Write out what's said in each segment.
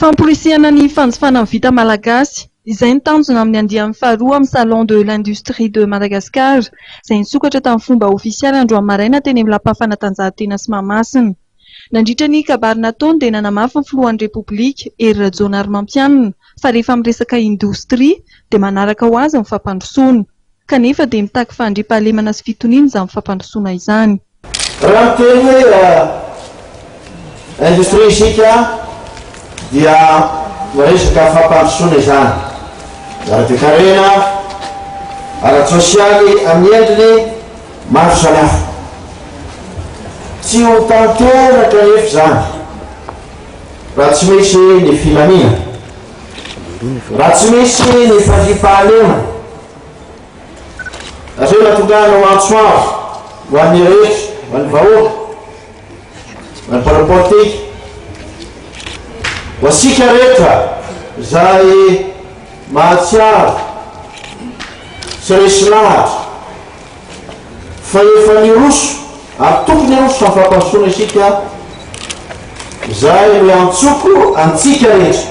Famporisihana ny fanjifana ny vita malagasy. Izay ny tanjona amin'ny andiany faharoa amin'ny Salon de l'industrie de Madagascar, izay nisokatra tamin'ny fomba ofisialy androany maraina teny amin'ny Lapan'ny fanatanjahantena sy Mahamasina. Nandritra ny kabary nataony dia nanamafy ny filohan'ny Repoblika, Hery Rajaonarimampianina, fa rehefa miresaka indostria dia manaraka ho azy ny fampandrosoana. Kanefa dia mitaky fandriampahalemana sy fitoniana izany fampandrosoana izany. Raha miteny hoe industrie isika dia resaka fampandrosoana izany, ara-toekarena, ara-tsosialy amin'ny endriny maro samihafa. Tsy ho tanteraka anefa izany raha tsy misy ny filaminana, raha tsy misy ny fandriampahalemana. Aveo natongahana ho antso avo ho an'ny rehetra, ho an'ny vahoaka, ho an'ny mpanao politika, ho antsika rehetra izay mahatsiaro sy resy lahatra fa efa niroso ary tokony hiroso amin'ny fampandrosoana isika izay no iantsoko antsika rehetra.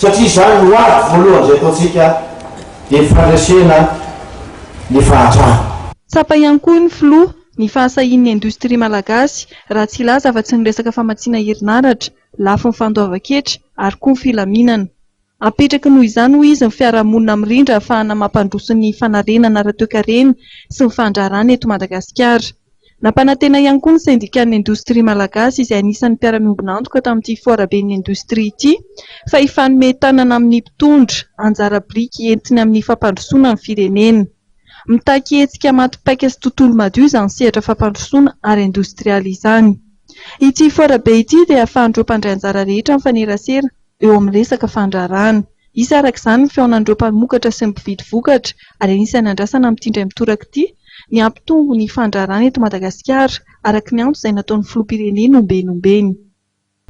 satria izany no ady voalohany izay ataontsika dia ny fandresena ny fahantrana. Tsapa ihany koa ny filoha ny fahasahian'ny indostria malagasy raha tsy hilaza afa-tsy ny resaka famatsiana herinaratra, lafiny fandoavan-ketra ary koa ny filaminana. Apetraky noho izany hoy izy ny fiarahamonina mirindra ahafahana mampandroso ny fanarenana ara-toekarena sy ny fandraharana eto Madagasikara. Nampanantena ihany koa ny sendikan'ny indostria malagasy izay anisan'ny mpiara-miombon'antoka tamin'ity foaraben'ny indostria ity fa hifanome tanana amin'ny mpitondra anjara biriky entiny amin'ny fampandrosoana ny firenena. Mitaky hetsika maty paika sy tontolo madio izany sehatra fampandrosoana ara indostrialy izany. Ity foarabe ity dia ahafahan'ireo mpandray anjara rehetra mifanerasera eo amin'ny resaka fandraharahana. Hisy araka izany ny fihaonan'ireo mpamokatra sy ny mpividy vokatra ary anisan'ny andrasana amin'ity indray mitoraka ity ny hampitombo ny fandraharahana eto Madagasikara, araka ny antso izay nataon'ny filoham-pirenena ombeny ombeny.